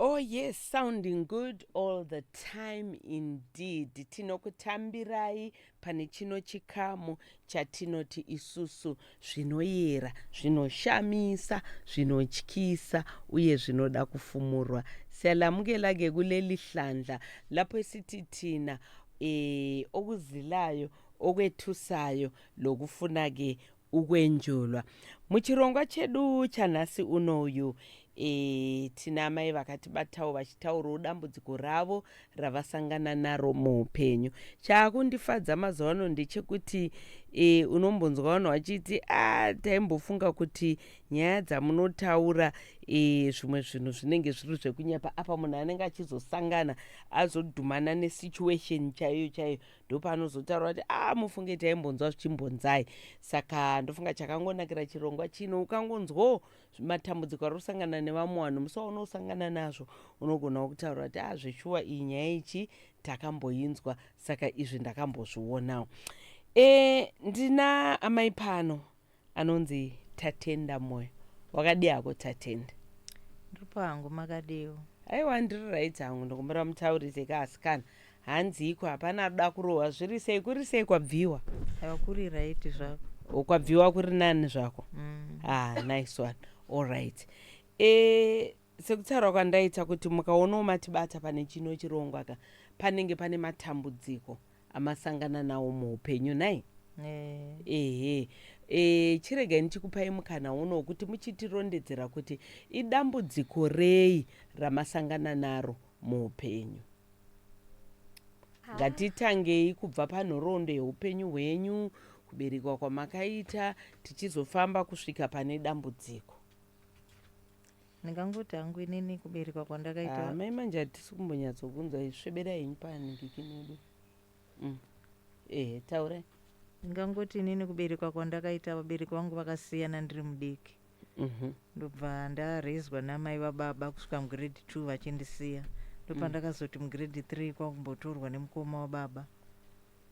Oh yes, sounding good all the time indeed. Tinokutambirai pane chino chikamu chatinoti isusu zvinoyera, zvinoshamisa, zvinotyisa uye zvinoda kufumurwa. Siyalamukela ke kuleli hlandla lapho esithi thina eh okuzilayo okwethusayo lokufuna ke ukwenjulwa muchirongwa chedu chanhasi uno uyu e, tina amai vakatibatawo vachitaurawo dambudziko ravo ravasangana naro muupenyu chaakundifadza mazuva ano ndechekuti e, unombonzwa vanhu vachiti a taimbofunga kuti nyaya dzamunotaura e, zvimwe zvinhu zvinenge zviri zvekunyepa apa munhu anenge achizosangana azodhumana nesituation chaiyo chaiyo ndopanozotaura kuti a ah, mufunge taimbonzwa zvichimbonzai saka ndofunga chakangonakira chirongwa chino ukangonzwawo matambudziko ari kusangana nevamwe vanhu musi waunosangana nazvo unogonawo kutaura kuti a ah, zveshuwa iyi nyaya ichi takamboinzwa saka izvi ndakambozvionawo e, ndina amai pano anonzi Tatenda Moyo. Wakadii hako Tatenda? Ndiripo hangu, makadiiwo? Aiwa ndiri right hangu, ndokumbira mutaurise ka asikana. Hanziiko hapana anoda kurohwa, zviri sei kuri sei kwabviwa? Aiwa kuri right zvako. O, kwabviwa kuri nani zvako? Mm. Ah, nice one. All right. Eh, sekutaura kwandaita kuti mukaonawo matibata pane chino chirongwa ka panenge pane matambudziko. amasangana nawo muupenyu nhai Eh, ehe e, chiregai ndichikupai mukana uno wokuti muchitirondedzera kuti idambudziko rei ramasangana naro muupenyu ngatitangei kubva panhoroondo yeupenyu hwenyu kuberekwa kwamakaita tichizofamba kusvika pane dambudziko Ndingangoti hangu inini kuberekwa kwandakaita. Ah, mai manje hatisi kumbonyatsokunzwa isvebera henyu panikiki medu. Mm. Ehe, taurai. Ndingangoti inini kuberekwa kwandakaita vabereki vangu vakasiyana ndiri mudiki. Mm -hmm. Ndobva ndarezwa namai vababa kusvika mugrade 2 vachindisiya. Ndopandakazoti mm. mugrade 3 kwakumbotorwa nemukoma wababa.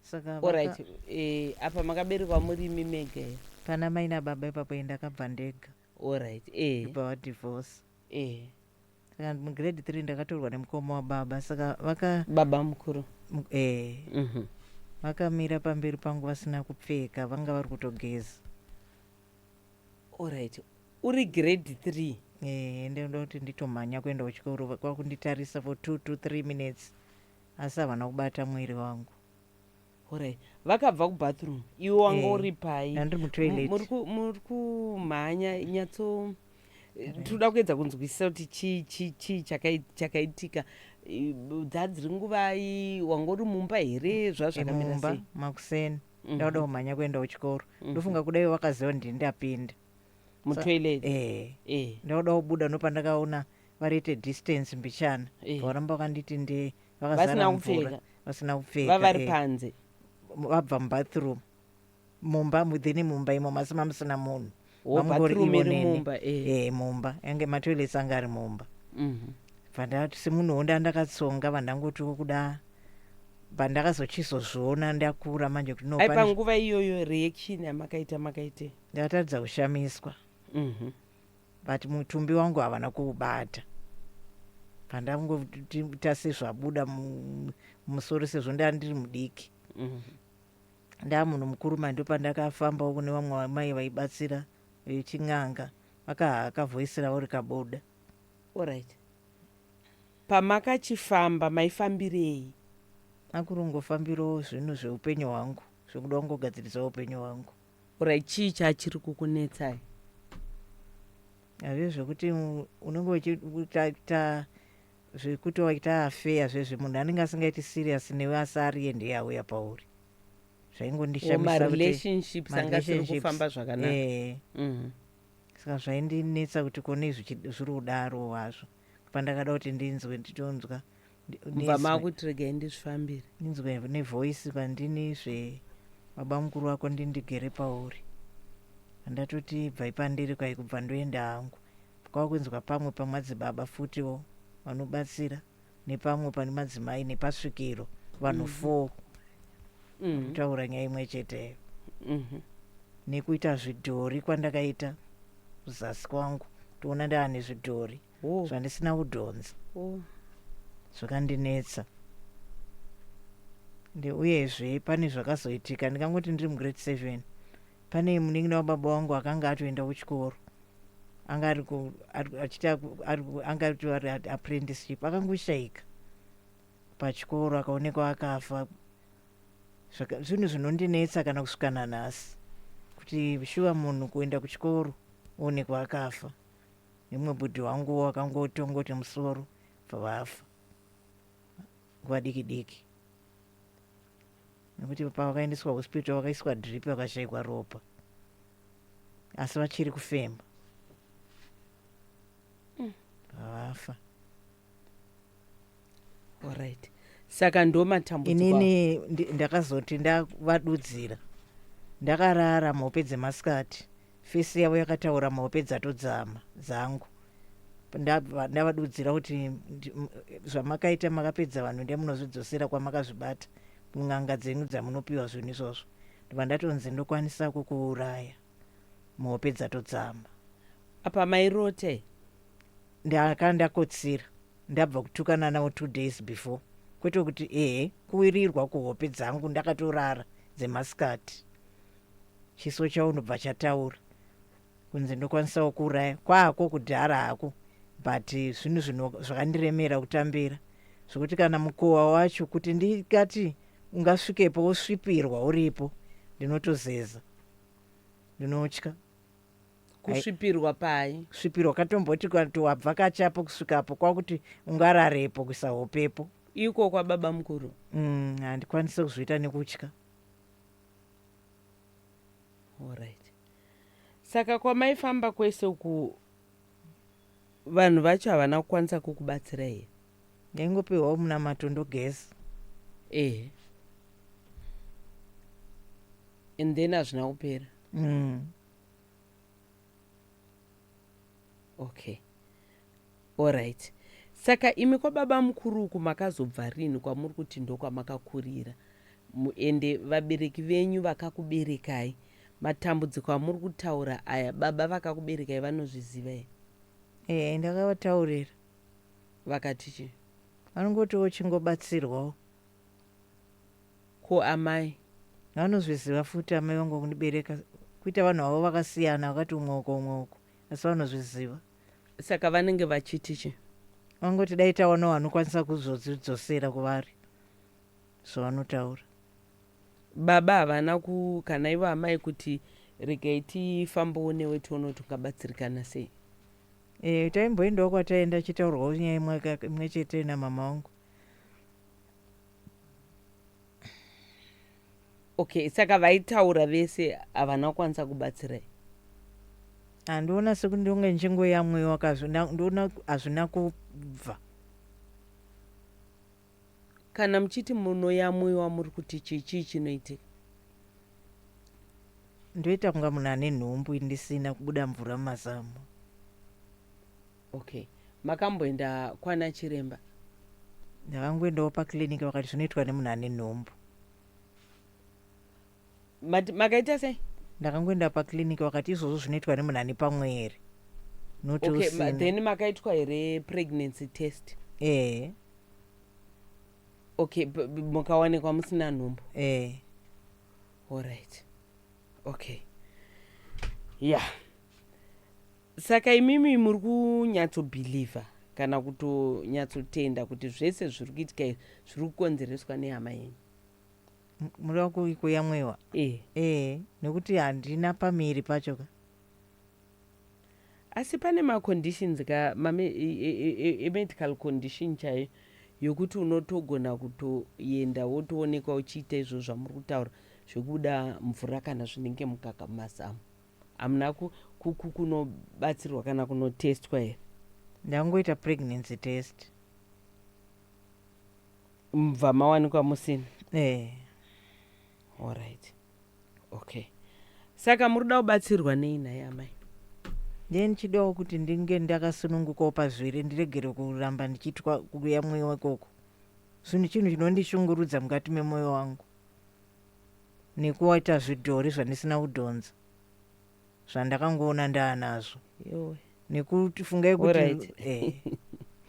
Saka vaka... Alright, eh, apa makaberekwa muri mimege. Pana mai nababa ipapo endakabva ndega. Alright eh. Ndobva va divorce. Eh. Saka mu grade 3 ndakatorwa nemukoma wababa saka vaka. Baba mukuru. M eh. Mm -hmm. Vakamira pamberi pangu vasina kupfeka vanga vari kutogeza. Alright. Uri grade 3. Eh, ndoda kuti nditomhanya kuenda kuchikoro kwakunditarisa for 2 to 3 minutes asi havana kubata mwiri wangu. Horai. Vakabva kubathroom. Iwe wanga Eh, uri pai? ndandiri mutoilet. Muri ku- muri kumhanya nyatso tinoda kuedza kunzwisisa kuti chii chii chii chakai- chakaitika I- b- dzadziri nguvai wanga uri mumba here zvazvakamira mumba sei makuseni Mhm. ndauda kumhanya kuenda kuchikoro Mhm. ndofunga kuda iwe wakaziva kuti ndapinda mutoilet eh eh ndauda kubuda ndopandakaona variite distance mbichana Eh. varamba vakanditi ndi vakazara Vasina mvura, kupfeka. vasina kupfeka vavari eh. panze M- vabva mubathroom mumba mudhini mumba imo masima musina munhu Wo, Mamungori bathroom ivo iri neni. mumba, eh. Eh, mumba yange matoilets anga ari mumba Mhm. vandati semunhuwo ndandakatsonga vandangotiwo kuda pandakazochizozviona ndakura manje kuti no ai pane- panguva iyoyo reaction yamakaita makaitei ndakatadza kushamiswa Mhm. but mutumbi wangu havana kuubata pandangoita sezvabuda mumusoro sezvo ndaa ndiri mudiki mhm. ndaa munhu mukuru mandi pandakafambawo kune vamwe vamai vaibatsira vechin'anga vakavhoisira vauri kaboda orit pamakachifamba maifambirei akurongofambirawo zvinhu zveupenyu hwangu zvekuda kungogadzirisawo upenyu hwangu Alright, chii chachiri kukunetsai? Hazvii zvekuti u- unenge uchiita zvekuti waita affair zvezve munhu anenge asingaiti serious newe asi ari ende yauya pauri Or zvaingondishamisa kuti marelationships anga asiri marelationships- kufamba zvakanaka eh, Mhm. saka zvaindinetsa kuti kone zvichi- zviri kudaro hazvo pandakada kuti ndinzwe nditonzwa mva makuti regai ndizvifambire ndinzwe nevoice pandini zve baba mukuru wako ndindigere pauri ndatoti bvai pandiri kwai kubva ndoenda hangu kwava kunzwa pamwe pamadzibaba futiwo vanobatsira nepamwe pane madzimai nepasvikiro vanhu mm-hmm. four mm-hmm. kutaura nyaya imwe cheteyo mm-hmm. nekuita zvidhori kwandakaita kuzasi kwangu toona ndaane zvidhori oh. zvandisina kudhonza oh. zvakandinetsa uyezve pane zvakazoitika ndikangoti ndiri mugrade seven pane munin'ina wababa wangu akanga atoenda kuchikoro anga ari apprenticeship akangoshaika pachikoro akaonekwa akafa zvinhu zvinondinetsa kana kusvika nanhasi kuti shuva munhu kuenda kuchikoro oonekwa akafa imwe bhudhi wangu wakangotongoti musoro vafa nguva diki diki nekuti pavakaendeswa hospital vakaiswa drip vakashaikwa ropa asi vachiri kufema mm. vafa mm. Alright. Saka ndo matambudziko. awo. inini ndi- ndakazoti ndavadudzira ndakarara mhope dzemasikati fesi yavo yakataura mhope dzatodzama dzangu Ndava- ndavadudzira kuti ndi- m- zvamakaita makapedza vanhu ndiye munozvidzosera kwamakazvibata n'anga dzenyu dzamunopiwa zvinhu izvozvo ndibva ndatonzi ndokwanisa kukuuraya mhope dzatodzama Apa mairota here? Ndanga ndakotsira ndabva kutukana navo two days before kwete kuti ehe kuwirirwa kuhope dzangu ndakatorara dzemasikati chiso chaunobva chataura kunzi ndokwanisawo kuuraya kwako kudhara hako but zvinhu zvino zvakandiremera kutambira zvekuti kana mukowa wacho kuti ndikati ungasvikepo wosvipirwa uripo ndinotozeza ndinotya kusvipirwa pai svipirwa katomboti kati wabvakachapo kusvikapo kwakuti ungararepo kuisa hopepo iko kwababa mukuru mm, handikwanise kuzviita nekutya Alright. Saka kwamaifamba kwese uku Vanhu vacho havana kukwanisa kukubatsira here? Ndaingopiwawo munamato ndogeza. Ehe. And then hazvina kupera. Mm. Okay. Alright. Saka imi kwababa mukuru uku makazobva rini kwamuri kuti ndokwamakakurira? Ende vabereki venyu vakakuberekai Matambudziko amuri kutaura aya baba vakakuberekai vanozviziva here? Ehe ndakavataurira. Vakati chii? Vanongotiwo chingobatsirwawo. Ko amai? Vanozviziva futi amai vangu vakundibereka kuita vanhu havo vakasiyana vakati umwe uko umwe uko asi vanozviziva. Saka vanenge vachiti chii? Vanongoti dai tawanawo anokwanisa kuzozvidzosera kuvari. zvavanotaura. Baba havana ku kana ivo amai kuti regai tifambewo newe tione kuti ungabatsirikana sei. Eh, taimboendawo kwataenda achitaurwawo nyaya imwe ka- imwe chete namama wangu. Okay, saka vaitaura vese havana kukwanisa kubatsirai. Handiona sekuti ndonge ndichingoyamwiwa ka hazvina- ndoona hazvina kubva. Kana muchiti munoyamwiwa muri kuti chii chii chinoitika. Ndoita kunga munhu ane nhumbu ndisina kubuda mvura mumazamu. Okay makamboenda kwana chiremba. Ndakangoendawo paclinic vakati zvinoitwa nemunhu ane nhumbu. But makaita sei? Ndakangoenda pa clinic vakati izvozvo zvinoitwa nemunhu ane pamwere. Not okay, ma, then makaitwa here pregnancy test? Eh. Okay, mukawanikwa musina nhumbu? Eh. All right. Okay. Yeah. Saka imimi muri kunyatso believer kana kutonyatsotenda kuti zvese zviri kuitika zviri kukonzereswa nehama yenyu? M- muri waku- kuyamwewa Eh. ee nekuti handina pamiri pacho ka asi pane maconditions ka mame e- e- e- e- emedical condition chaiyo yokuti unotogona kutoenda wotoonekwa uchiita izvo zvamuri kutaura zvekubuda mvura kana zvinenge mukaka mumazamu hamuna ku- ku- ku- kunobatsirwa kana kunotestwa here ndangoita pregnancy test mubva mawanikwa musina eh. Alright. Okay. Saka muri kuda kubatsirwa nei nhai amai? Ndiye ndichidawo kuti ndinge ndakasunungukawo pazviri ndiregere kuramba ndichiitwa kuya mweya ikoko. Zvinhu chinhu chinondishungurudza mukati memwoyo wangu nekuwaita zvidhori zvandisina kudhonza. zvandakangoona ndaanazvo yowe nekuti fungai kuti Alright. eh,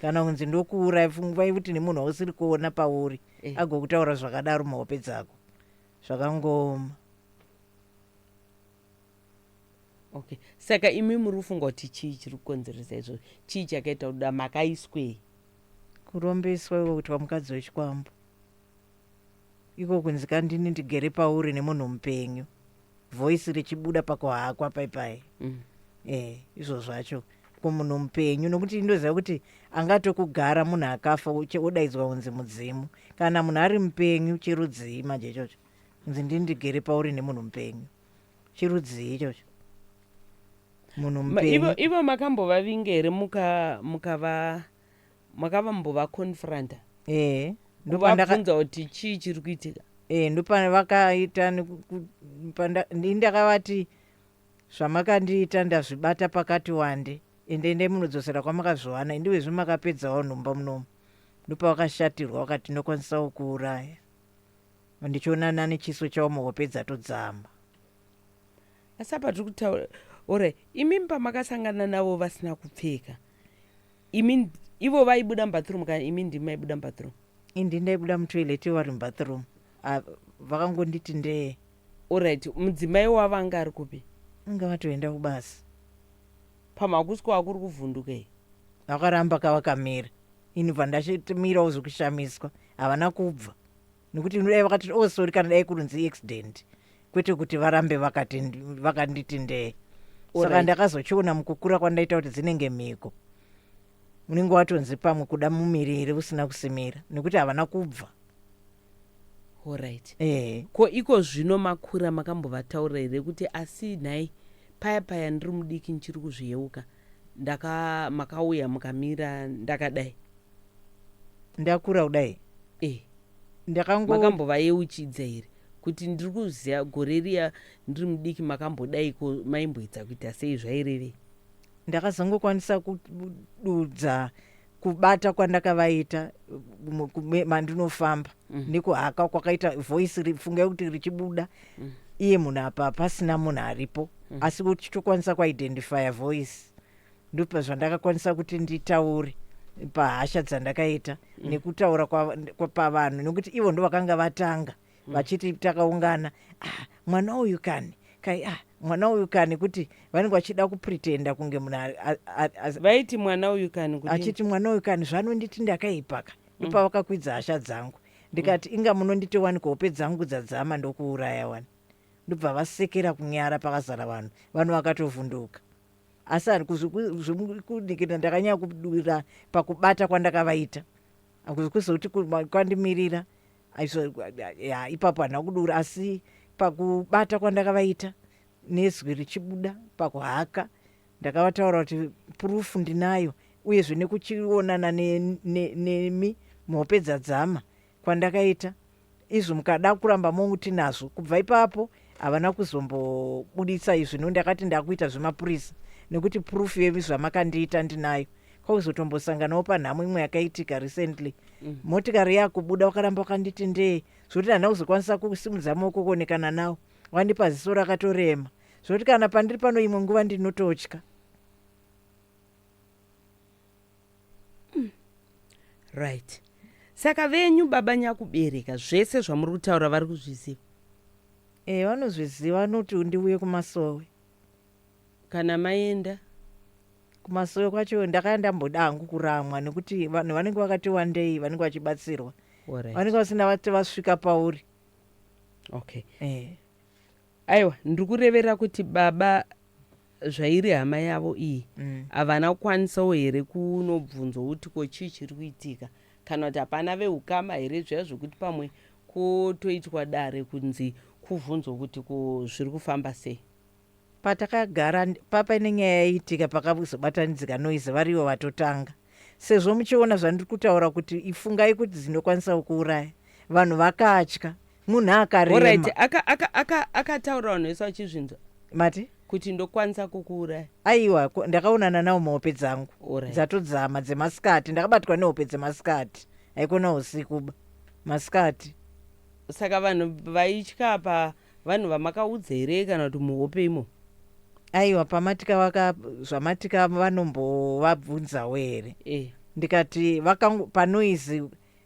kana kunzi ndokuuraya fungai kuti nemunhu wausiri kuona pauri Eh. agokutaura zvakadaro muhope dzako zvakangooma okay saka imi muri kufunga kuti chii chiri kukonzeresa izvozvo chii chakaita kuda makaiswei kurombeswa iko kuitwa mukadzi wechikwambo iko kunzi kandini ndigere pauri nemunhu mupenyu voice richibuda pakuhakwa paipai mm. eh, izvo zvacho kumunhu mupenyu nokuti ndoziva kuti angatokugara munhu akafa odaidzwa kunzi mudzimu kana munhu ari mupenyu chirudzii manje ichocho kunzi ndini ndigere pauri nemunhu mupenyu chirudzii ichocho munhu mupenyu ivo makambovavingere mukava muka makavambova confronta ehe ndopandakabvunza kuti chii chiri kuitika ehe ndopavakaita ini ndakavati zvamakandiita ndazvibata pakati wande ende endai munodzosera kwamakazviwana indiwe zvi makapedzawo nhumba munomu ndopavakashatirwa vakati ndinokwanisawo kuuraya ndichionana nechiso chavo muhope dzatodzama asi apa tiri kutaura ora imimi pamakasangana navo vasina kupfeka imi nd- ivo vaibuda mubathroom kana imi ndimi maibuda mubathroom indi ndaibuda mutoilet ivo vari mubathroom Ah, vakangonditi ndee olright mudzimai wavo anga ari kupi inga vatoenda kubasa pamakusiko akuri kuvhunduka iyi vakaramba kavakamira ini bva ndachitimirawo zvekushamiswa havana kubva nekuti dai vakati oh sorry kana dai kurunzi accident kwete kuti varambe vakanditi ndee saka ndakazochiona mukukura kwandaita kuti dzinenge mhiko unenge watonzi pamwe kuda mumiriri usina kusimira nekuti havana kubva orit eh. ko iko zvino makura makambovataura here kuti asi nhai paya paya ndiri mudiki ndichiri kuzviyeuka ndaka makauya mukamira ndakadai ndakura kudai eh ndakango makambovayeuchidza here kuti ndiri kuziva gore riya ndiri mudiki makambodaiko maimboedza kuita sei zvairevei ndakazongokwanisa kududza kubata kwandakavaita mandinofamba mm. nekuhaka kwakaita voice fungai kuti richibuda mm. iye munhu apa pasina munhu aripo mm. asi kuti chitokwanisa kuidentifya voice ndopa zvandakakwanisa kuti nditaure pahasha dzandakaita mm. nekutaura pavanhu nekuti ivo ndovakanga vatanga mm. vachiti takaungana ah, mwana uyu kani kai ah, mwana uyu kani kuti vanenge vachida kupretenda kunge munhu vaiti mwana uyu kani achiti mwana uyu kani zvanonditi ndakaipaka mm. ipa vakakwidza hasha dzangu ndikati mm. inga munonditi wani kuhope dzangu dzadzama ndokuuraya wani ndobva vasekera kunyara pakazara vanhu vanhu vakatovhunduka asi kuzvikunikira ndakanyaya kudura pakubata kwandakavaita akuzi kuzokuti kwandimirira ya ipapo handina kudura asi pakubata kwandakavaita nezwi richibuda pakuhaka ndakavataura kuti purufu ndinayo uyezve nekuchionana nemi ne, ne, ne, muhope dzadzama kwandakaita izvo mukada kuramba mongu tinazvo kubva ipapo havana kuzombobuditsa izvi no ndakati ndakuita zvemapurisa nekuti proof yemi zvamakandiita ndinayo kwakuzotombosanganawo panhamo imwe yakaitika recently mm. motikari yakubuda wakaramba wakanditi ndee zvokuti hana kuzokwanisa kusimudza maoko kuonekana nawo wandipa ziso rakatorema zvokuti kana pandiri pano imwe nguva ndinototya Right. Saka venyu baba nyakubereka zvese zvamuri kutaura vari kuzviziva. Eh vanozviziva vanoti ndiuye kumasowe. Kana maenda. Kumasowe kwacho ndakaya ndamboda hangu kuramwa nekuti vanhu vanenge vakati wandei vanenge vachibatsirwa. Alright. Vanenge vasina vati vasvika pauri. Okay. Eh. Aiwa ndiri kurevera kuti baba zvairi hama yavo iyi mm. havana mm. kukwanisawo here kunobvunzwa kuti ko chii chiri kuitika kana kuti hapana veukama here zviya zvekuti pamwe kutoitwa dare kunzi kuvhunzwa kuti ko zviri kufamba sei patakagara papa ine nyaya yaiitika pakazobatanidzika noise varivo vatotanga Sezvo muchiona zvandiri kutaura kuti ifungai kuti dzinokwanisa kukuuraya. Vanhu vakatya. Munhu akarema. Horaiti, aka, aka, aka, akataura vanhu vese vachizvinzwa. Mati? Kuti ndokwanisa kukuuraya. Aiwa, ndakaonana nawo muhope dzangu. Horaiti. Dzatodzama, dzemasikati. Ndakabatwa nehope dzemasikati. Haikona usikuba. Masikati. Saka vanhu vaitya apa. Vanhu vamakaudza here kana kuti muhope imo. Aiwa pamatika vaka zvamatika vanombovabvunzawo here. Eh. Ndikati vaka panoise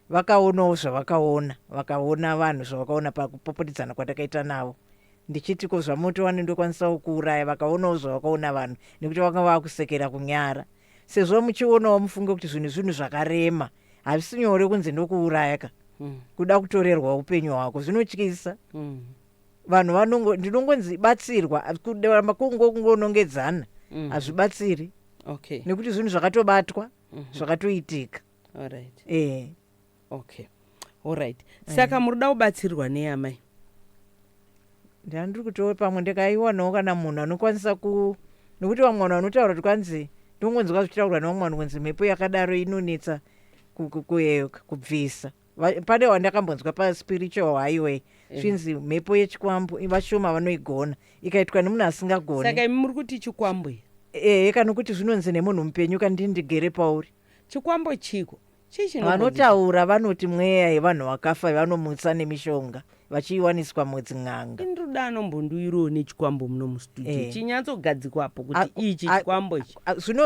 vakaonawo zvavakaona vakaona vanhu zvavakaona pakupopodidzana kwatakaita navo ndichiti ko zvamoto wani ndokwanisawo kuuraya vakaonawo zvavakaona vanhu nekuti vanga vakusekera kunyara sezvo muchionawo mufunge kuti zvinhu zvinhu zvakarema hazvisi nyore kunzi ndokuuraya ka mm. kuda kutorerwa upenyu hwako zvinotyisa mm. vanhu vanongo ndinongonzi batsirwa kuramba kungo kungonongedzana mm. hazvibatsiri mm. okay. nekuti zvinhu zvakatobatwa mm -hmm. zvakatoitika right. e. okay allright eh. saka muri da kubatsirwa nei amai ndandiri kutoo pamwe ndikaiwanawo kana munhu anokwanisa ku nokuti vamwe vanhu vanotaura kuti kwanzi ndongonzwa zvichitaurwa nevamwe vanhu kunzi mhepo yakadaro inonetsa kueyoka kubvisa pane wandakambonzwa paspiritual highway eh. zvinzi mhepo yechikwambo vashoma vanoigona ikaitwa nemunhu asingagoni saka imi muri kuti chikwambo ehe eh, kana kuti zvinonzi nemunhu mupenyu kandindigere pauri chikwambo chiko vanotaura vanoti mweya yevanhu vakafa vanomutsa nemishonga vachiiwaniswa mwedzi n'anga inruda anombonduiroo nechikwambo muno mustudio eh. chinyatsogadzikwapo kuti ichi chikwambo ichi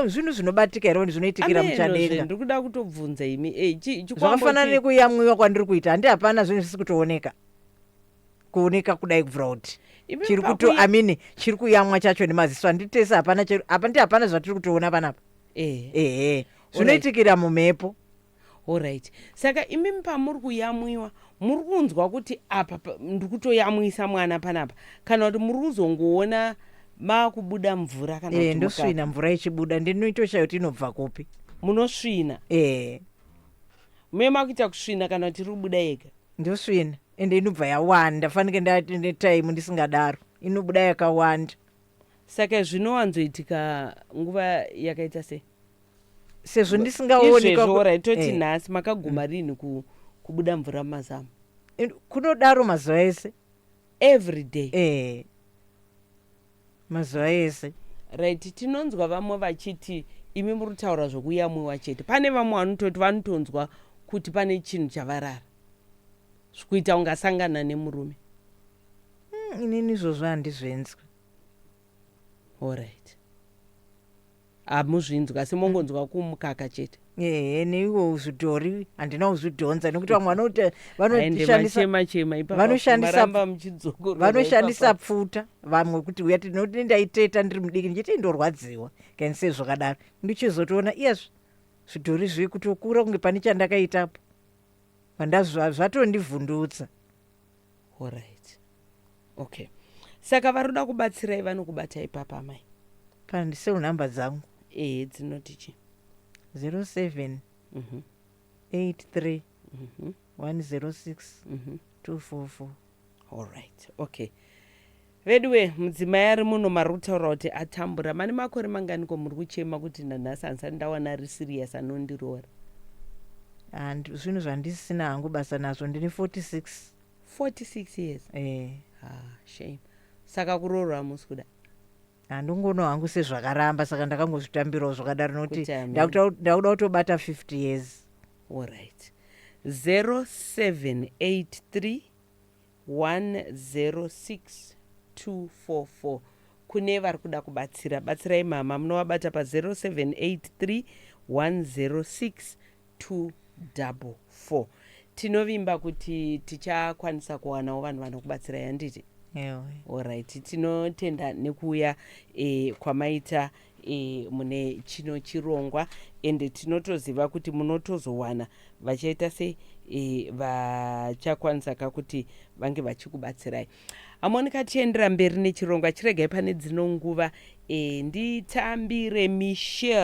zvinhu zvinobatika here zvinoitikira muchadenga ndiri kuda kutobvunza imi eh, zvakafanana nekuyamwiwa kwandiri kuita handi hapana zvinhu zvisi kutooneka kuoneka kudai kubvira kuti chiri kuto amini chiri kuyamwa chacho nemaziso anditese hapana apa ndi hapana zvatiri kutoona panapa eh. ehe zvinoitikira mumhepo orit saka imimi pamuri kuyamwiwa muri kunzwa kuti apa ndiri kutoyamwisa mwana panapa kana kuti muri kuzongoona makubuda mvura kana eh, ndosvina mvura ichibuda ndinoitoshaya kuti inobva kupi munosvina eh. muye makuita kusvina kana kuti iri kubuda yega ndosvina ende inobva yawanda fanike ndaine time ndisingadaro inobuda yakawanda saka zvinowanzoitika nguva yakaita sei sezvo ndisingaonekwaorai toti eh. nhasi makaguma mm. rinhi kubuda mvura mumazamu kunodaro mazuva ese every day eh. mazuva ese. Right tinonzwa vamwe vachiti imi muritaura zvokuyamwiwa chete pane vamwe vanototi vanotonzwa kuti pane chinhu chavarara zvikuita ungasangana nemurume mm, inini izvozvo handizvenzwi alright Hamuzvinzwi asi mongonzwa kumukaka chete. Ehe neiwo uzvidhori handina uzvidhonza nekuti vamwe vanoti Aende vanoshandisa machema chema ipapa vanoshandisa- maramba muchidzokora. vanoshandisa pfuta vamwe kuti uya tinoti ndaiteta ndiri mudiki ndichiti ndorwadziwa kani sei zvakadaro ndichizotoona iyazvi zvidhori zviri kutokura kunge pane chandakaitapo Vanda- zva- zvatondivhundutsa Alright. Okay. Saka varuda kubatsirai vanokubatai papa amai? Kana ndiseu number dzangu. Eh, dzinoti chi? 07 mm -hmm. 83 mm -hmm. 106 mm -hmm. 244. Alright. Okay. Veduwe mudzimai ari muno marikutaura kuti atambura mane makore mangani ko muri kuchema kuti nanhasi handisati ndawana ari serious anondiroora. And zvinhu zvandisisina hangu basa nazvo ndine 46. 46 years? Eh. Haa shame. Saka kuroorwa hamusi kuda? Handingono hangu sezvakaramba saka ndakangozvitambirawo zvakadaro noti Kuti hameno. ndakuta ndakuda kutobata 50 years. Alright. 0783 106244 kune vari kuda kubatsira batsirai mhamha munovabata pa 0783106244 tinovimba kuti tichakwanisa kuwanawo vanhu vanokubatsirai handiti Ewe. Alright, tinotenda nekuuya eh, kwamaita e, mune chino chirongwa ende tinotoziva kuti munotozowana vachaita sei e, vachakwanisa ka kuti vange vachikubatsirai hamonika tiendera mberi nechirongwa chiregai pane dzino nguva e, nditambire michel